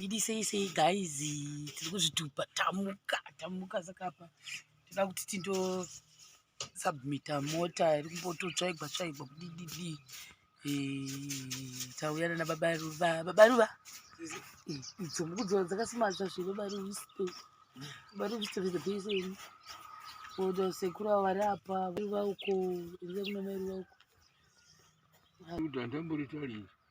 Didi sei sei guys, tiri kuzvitupa tamuka tamuka saka apa tinoda kuti tindo submita mota iri kumbototsvaigwa tsvaigwa kudididi tauya nana baba ruva baba ruva idzo mukudzora dzakasimadzwa zve baba ruvisto baba ruvisto vezabeseni oda sekuru avo vari apa ruva uko iriza kuna mai ruva uko ndamboritalii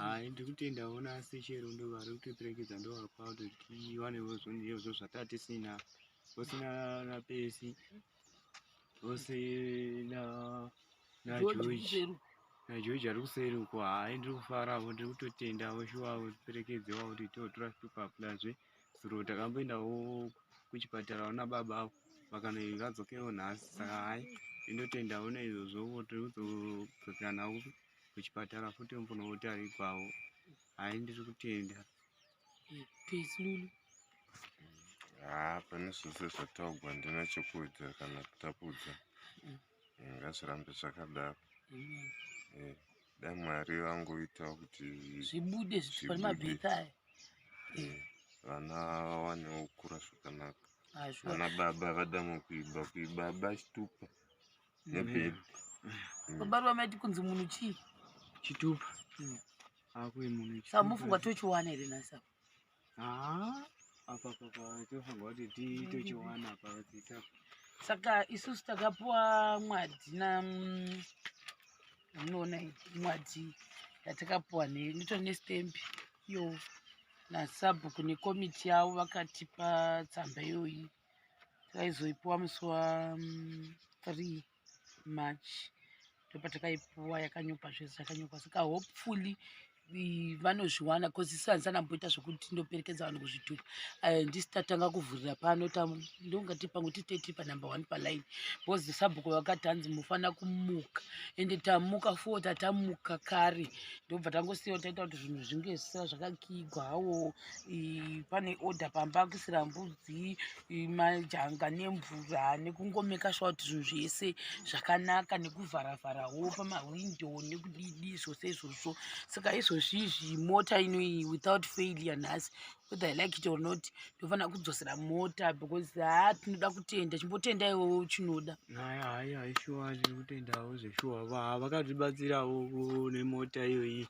Hai ndiri kutenda ona asi chero ndo vari kutiperekedza ndo vapa kuti tiwanewo zvondiezvo zvataa tisina vose na pesi vose na na George na George ari kuseri uko hai ndiri kufaravo ndiri kutotenda voshuwa tiperekedze wa kuti totora zvitupa plazve zuro takamboendawo kuchipatara ona baba avo vakanoi vadzokewo nhasi saka hai ndinotenda ona izvozvo voti uzodzokera navo kuchipatara futi mbonotarigwawo hai ndiri kutenda peslulu haa pane zvese zvataugwa ndina chekuudza kana kutapudza mm. eh, ngazvirambe zvakadaro mm. eh, da mwari vangoitawo kuti zvibude zvipamabhita aya eh, vana vawanewo kukura zvakanaka vana baba vada mukuiba kuibaba chitupa Zebed. Mm. Baba ruva maiti kunzi munhu chii? Chitupa. Mm. Akuye munhu chitupa. Saka mufunga tochiwana here nhasi apa? Haa, apa papa tofunga kuti mm. tochiwana apa vadzita. Saka isusu takapuwa mwadzi na mm, munoona mwadzi yatakapuwa nei ndito nestembi yo nasabhuku nekomiti yavo vakatipa tsamba iyoyi takaizoipuwa musi wa 3 march ndopatakaipuwa yakanyopa zvese yakanyopa saka hopefully vanozviwana bcause isu handisana mboita zvekuti ndoperekedza vanhu kuzvitupa eh, ndisi tatanga kuvhurira pano ndongati pangu titeti panumber one paline bcause sabhuku vakati hanzi mufana kumuka ende tamuka fo tatamuka kare ndobva tangosiya taita kuti zvinhu zvinge zvisira zvakakigwa hawo pane order pamba kuisira mbudzi majanga nemvura nekungomeka shuwa kuti zvinhu zvese zvakanaka nekuvharavharawo pamahwindo nekudidi zvose izvozvo saka izvozvi izvi mota inoiyi without failure nhasi whether i like it or not ndofanira kudzosera mota because haa tinoda kutenda chimbotenda iwowo chinoda haya ishuwa zviri kutendawo zveshuwa vakatibatsirawo nemota iyoyi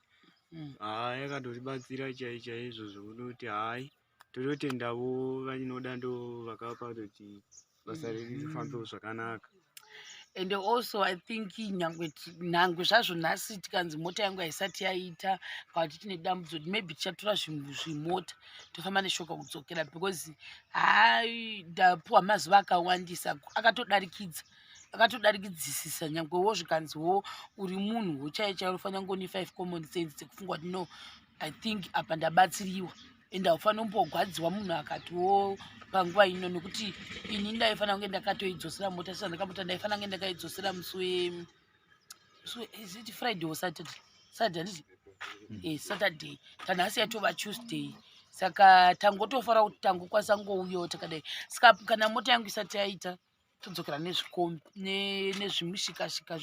mm. haa yakatotibatsira chai chaizvo zvekutoti hai tototendavo vanoda ndo vakapa kuti basa mm. riri rifambewo zvakanaka and also i think nyangwe nhangu zvazvo nhasi tikanzi mota yangu haisati yaita kana kuti tine dambudzo maybe tichatora zvimota tofamba neshoka kudzokera because haa ndapuwa mazuva akawandisa akatodarikidza ah, akatodarikidzisisa nyangwe wo zvikanzi wo uri munhu wochaiye chairo ufanira ngoni five common sense dzekufunga kuti no i think apa ndabatsiriwa and haufanira kumbogwadziwa munhu akati wo panguva ino nekuti ini ndaifanira kunge ndakatoidzosera mota sisa ndakamota ndaifanira kunge ndakaidzosera musi we so is it friday or saturday saturday handiti mm. eh, saturday tanhasi yatova tuesday saka tangotofara kuti tangokwanisa ngouyo takadai saka kana mota yangu isati yaita yeah. todzokera nezvikombi nezvimushikashika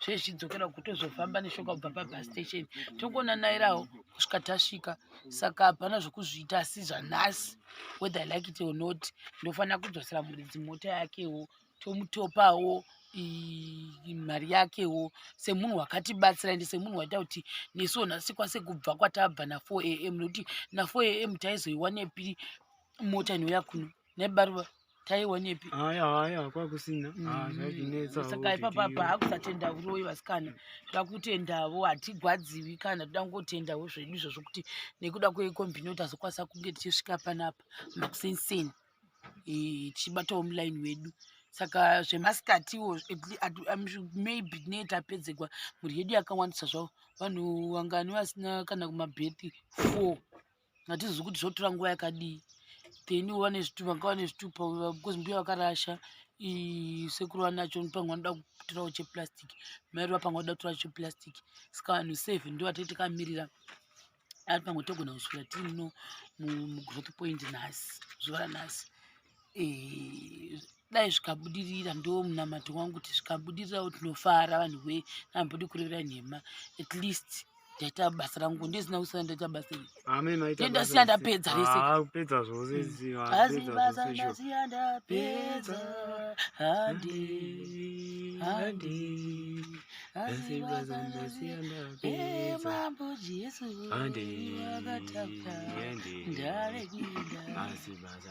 zvezvidzokera kuti tozofamba neshoka kubva pabus station tongona nairawo kusvika tasvika saka hapana zvekuzviita asi zvanhasi whether like it or not ndofanira kudzosera muridzi mota yakewo tomutopawo mari yakewo semunhu wakatibatsira ende semunhu waita kuti nesu nhasi kwase kubva kwatabva na4 am nokuti na4 am taizoiwanepi mota inouya kuno nebaruva taiwonepi haya haya kwakusina mm. ah, zvatinetsa saka ipapa apa hakusatenda uroyi vasikana toda kutendavo hatigwadziwi kana toda kungotendawo zvedu izvo zvokuti nekuda kwekombini kuti azokwanisa kunge tichisvika panapa makusenseni eh, tichibatawo mulaini wedu saka zvemasikatiwo maybe ne tapedzegwa mhuri yedu yakawandisa zvavo vanhu vangani vasina kana kumabhethi four hatizivi kuti zvotora nguva yakadii then vane zvitupa vanga vane zvitupa because mbuya vakarasha sekuru vanacho panga vanoda kutorawo cheplastic mairi vapanga voda kutorawo cheplastic saka vanhu save ndo vatei takamirira ari pamwe togona kusvira tiri no mugrowth point nhasi zuva ranhasi eh, dai zvikabudirira ndo munamato wangu kuti zvikabudirirawo tinofara vanhu we nambodi kurevera nhema at least ndaita basa rangu ndizina kusana ndaita basa iri ndasiya ndapedza reseasiya ndapedza handi handi mambo jesu akatapa ndarekida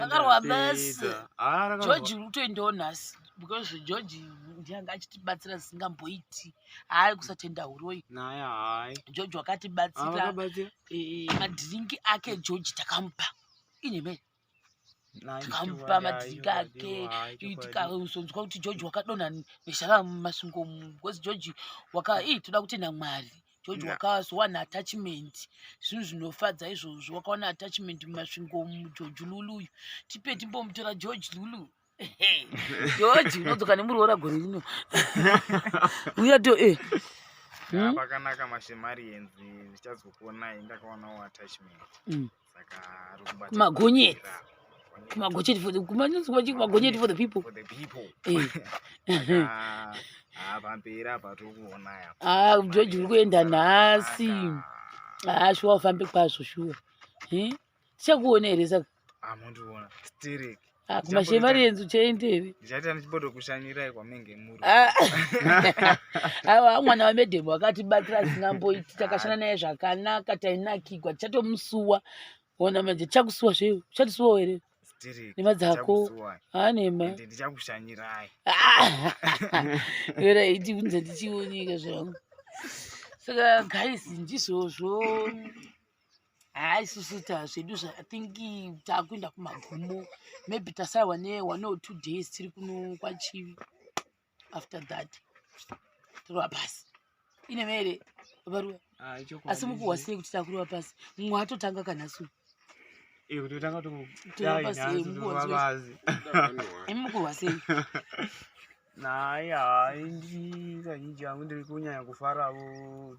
takarwa basi ah, george kutoendawo nhasi because george ndianga achitibatsira zisingamboiti hayi kusatenda huroi george wakatibatsira ah, eh, madhiringi ake george takamupa inheme tikamupa madhiringi ake tikazonzwa kuti george wakadonha neshara mumasungo bcause george waka ii toda kutenda mwari george wakazowana attachment zvinhu zvinofadza izvozvo wakawana attachment mumasvingo mugeorge lulu uyu tipe timbomutora george lulu george unodzoka nemuroora gore rino uya to e eh. hmm? pakanaka mashemari enzi zvichazokuonai ndakaonawo attachment mm. kumagonyeti kumagonyeti for the kumagonyeti for the people eh. ah, pamperi apa tiri kuona yapa ah joji uri kuenda nhasi ah shuwa ufambe kwazvo shuwa eh? tichakuona here saka amondiona ah, stereki Ah, kumashe mari yenzu chaindeve ndichaita ndichibodo kushanyirai kwamenge muri ah. aiwa ah, mwana wamedhemu akatibatira asingamboiti takashanda naye zvakanaka tainakigwa tichatomusuwa ona manje tichakusuwa zve uchatisuwa here nema dzako anema ndichakushanyirai era iti unze ndichioneka zvangu saka guys ndizvozvo haa isusu zvedu think takuenda kumagumo maybe tasaiwa ne one or two days tiri kuno kwachivi after that tirova pasi ine mere varuwa ah, asi mukuhwa sei kuti takurova pasi mumwe atotanga kanhasu eh, mukuhwa sei naye hai ndi kazhinji yangu ndiri kunyanya kufaravo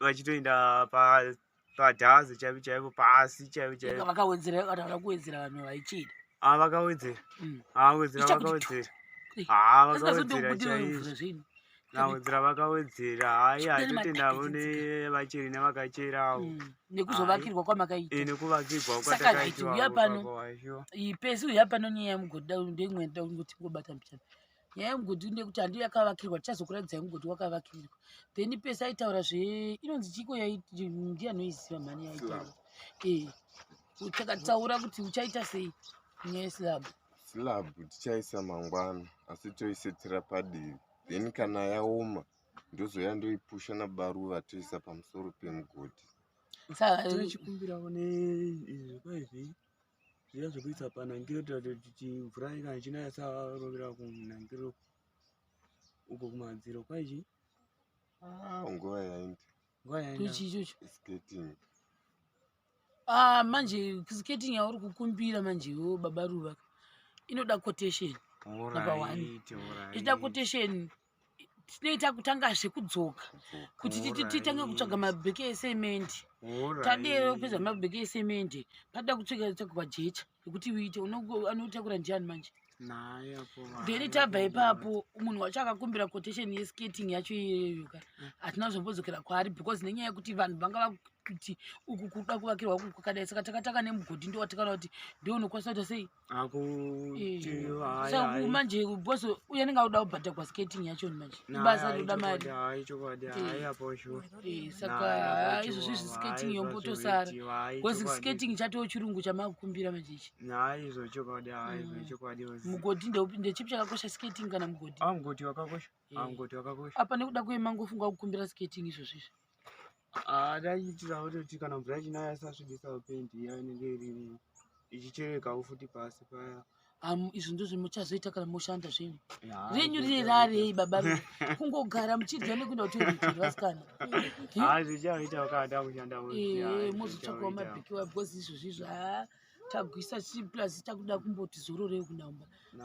vachitoenda pa padhazi chaipo chaipo pasi chaipo chaipo vakawedzera vakaona kuwedzera vanhu vaichida ah vakawedzera mm. ah wedzera vakawedzera ah vakawedzera chaipo nawedzera vakawedzera hayi hatotenda vone vacheri nevakacherawo mm. nekuzovakirwa kwamakaita eh, nekuvakirwa kwatakaitwa pano iyi pesi uya pano nyaya yemugodha ndeimwe ndauti ngobata mbichana nyaya yemugodhi ine kuti handiyo yakavakirwa tichazokuratidza yemugodhi wakavakirwa then pese aitaura zve inonzi chiko yaiti ndiye anoiziva mhani yaitaura ee eh, takataura kuti uchaita sei nyaya yeslab slab tichaisa mangwana asi toisetera padivi then kana yaoma ndozoya ndoipusha nabaruva toisa pamusoro pemugodhi saka chikumbirawo neizvi kwaizvii zviya zvekuisa panhangiro tiratira kuti mvura kana ichinaya sarovera kunhangiro uko kumadziro kwaizvi ah, nguva yaindi nguva yaindichi ichocho skating ah manje skating yauri kukumbira manje wo baba ruva inoda quotation number one inoda quotation tinoita kutanga zvekudzoka kuti titange kutsvaga mabheke esemende tadero kupedza mabheke esemende patoda kutsvika tsvagwa jecha ekuti uite anotakura ndiani manje then tabva ipapo munhu wacho akakumbira quotation yeskating yacho iyeyoka eh. hatina zvambodzokera kwaari because nenyaya yekuti vanhu vanga vakuti uku kuda kuvakirwa uku kwakadai saka takatanga nemugodhi ndowatikana kuti ndionokwanisa kuita sei akuti manje bos uye anenge akuda kubhata kwaskating yachoni manje ibasa rinoda mariaposaka eh, eh, izvozvi zviskating yombotosara bcause skating chatoo chirungu chamakukumbira manje ichi mugoti mm. ndeupinde chipi chakakosha skating kana mugoti ah, eh. ah, apa nekuda kuye mangofunga kukumbira skating izvozvizvi Ah, taiitira kuti kana mvura ichinaya isasvibisa pendi iya inenge iri ichicherekawo futi pasi paya um, izvi ndizvo muchazoita kana moshanda zvenyu renyu rine rarei baba kungogara muchidya nekuenda kutoiitirwa vasikana mozotsvakawo mabhikiwa because izvozvizvo haa tagwisa chiplazi takuda kumboti zororei kunaumba